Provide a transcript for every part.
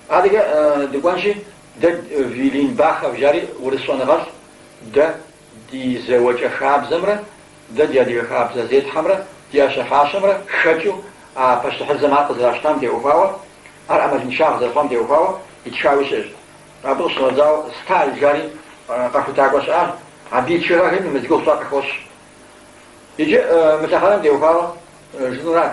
Адэкӏэ дыкӏуэнщи, дэ Вилинбахов жари урыс щӏэныгъэлӏ, дэ ди зэуэкӏэ хабзэмрэ дэ ди адыгэ хабзэ зетхьэмрэ ди ӏэщэ-фащэмрэ хэкӏыу а пащтыхьыдзэм ар къызэращтам теухуауэ, ар ӏэмалыншагъ зэрыхъуам теухуауэ итхауи щыӏэщ. Абы къыщынэмыщӏауэ Сталь жари къэхутакӏуэ щыӏащ, абы и тхыгъэхэми мы зи гугъу тщӏар къыхощ. Иджы мы лъэхъэнэм теухуауэ жысӏэнур ар.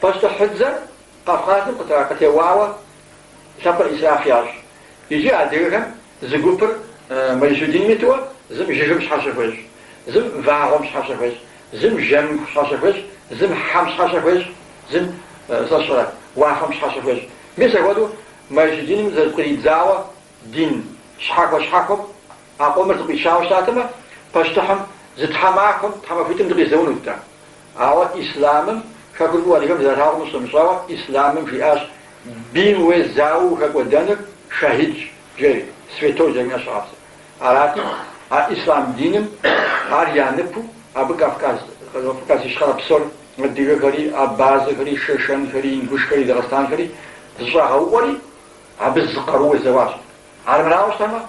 Пащтыхьыдзэр Къэвкъазым къытеуауэ лъэпкъыр исраф ящӏ. Иджы адыгэхэм зы гупыр мэжусий диным иту, зым жыгым щхьэщэ хуещӏ, зым вагъуэм щхьэщэ хуещӏ, зым жэмым щхьэщэ хуещӏ, зым хьэм щхьэщэ хуещӏ, зым, сщӏэрэ, уафэм щхьэщэ хуещӏ. Мис апхуэдэу мэжусий диным зэпкъридзауэ дин щхьэхуэ-щхьэхуэм а къомыр зэкъуичауэ щытатэмэ, пащтыхьым зы тхьэмахуэм, тхьэмахуитӏым дыкъизэунут дэ. Ауэ ислъамым хэкур фӏыуэ адыгэм зэралъагъум къыщынэмыщӏауэ ислъамым жиӏащ бийм уезауэу ухэкӏуэдэныр шэхидщ жери, святой жери щыгъэпсыр. Арати, а ислъам диным ар я ныпу абы Кавказ, Кавказ Ищхъэрэ псор, адыгэхэри, абазэхэри, шэшэнхэри, ингушхэри, дагъыстанхэри, зэщӏагъэуӏуэри абы зы къарууэ зэуащ. Армырауэ щытамэ,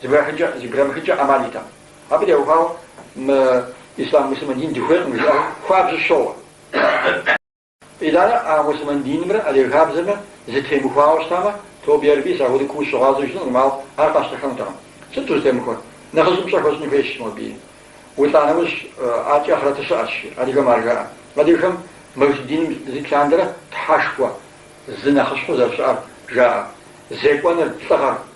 Зэбграмыхынкӏэ ӏэмал иӏэтэкъым. Абы теухуауэ мы ислъам муслъымэн дин дыхуейкъым жаӏэри хуабжьу щоуэ. Итӏанэ а муслъымэн динымрэ адыгэ хабзэмрэ зэтемыхуауэ щытамэ, тобэ ярэби, сэ ахуэдэ куу сыщыгъуазэу щытынкъым, ауэ ар къащтэхэнутэкъым. Сыт зэтемыхуэр? Нэхъыжьым пщӏэ хуэщӏыну хуейщ моби. Улӏа нэужькӏэ ахърэты щыӏэщ, жи. Адыгэм ар жаӏэ. Адыгэхэм мэжусий диным зэрит лъандэрэ тхьэшхуэ зы нэхъыщхьэу зэрыщыӏэр жаӏэ. Зекӏуэныр, лӏыгъэр.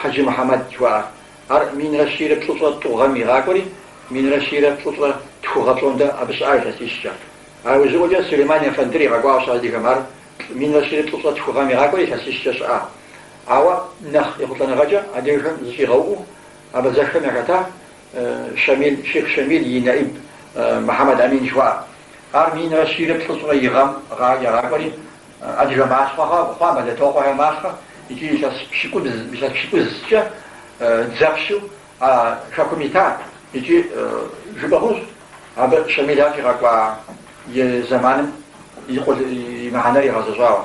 Хьэджи Мухьэмэд жыхуаӏэр. Ар минрэ щийрэ плӏыщӏрэ тӏу гъэм игъакӏуэри, минрэ щийрэ плӏыщӏрэ тху гъэ пщӏондэ абы щыӏа илъэсищкӏэ. А ужьыӏуэкӏэ Сулейман ефэндыр игъэкӏуащ адыгэм ар минрэ щийрэ плӏыщӏрэ тху гъэм игъакӏуэри илъэсищкӏэ щыӏа. Ауэ нэхъ ехъулӏэныгъэкӏэ адыгэхэм зэщӏигъэуӏуэу абазэхэхэм яхэтащ Шамил, Шейх Шамил и нэӏиб Мухьэмэд Амин жыхуаӏэ. Ар минрэ щийрэ плӏыщӏрэ и гъэм егъакӏуэри, адыгэ малъхъэ хъуа, Болэтокъуэхэ малъхъэ икӏи илъэс пщыкӏузкӏэ дзэпщу а хэкум ита икӏи жыпӏэ хъунущ абы Шамил ар щӏигъэкӏуа и зэманым и къул и мыхьэнэр игъэзэщӏауэ.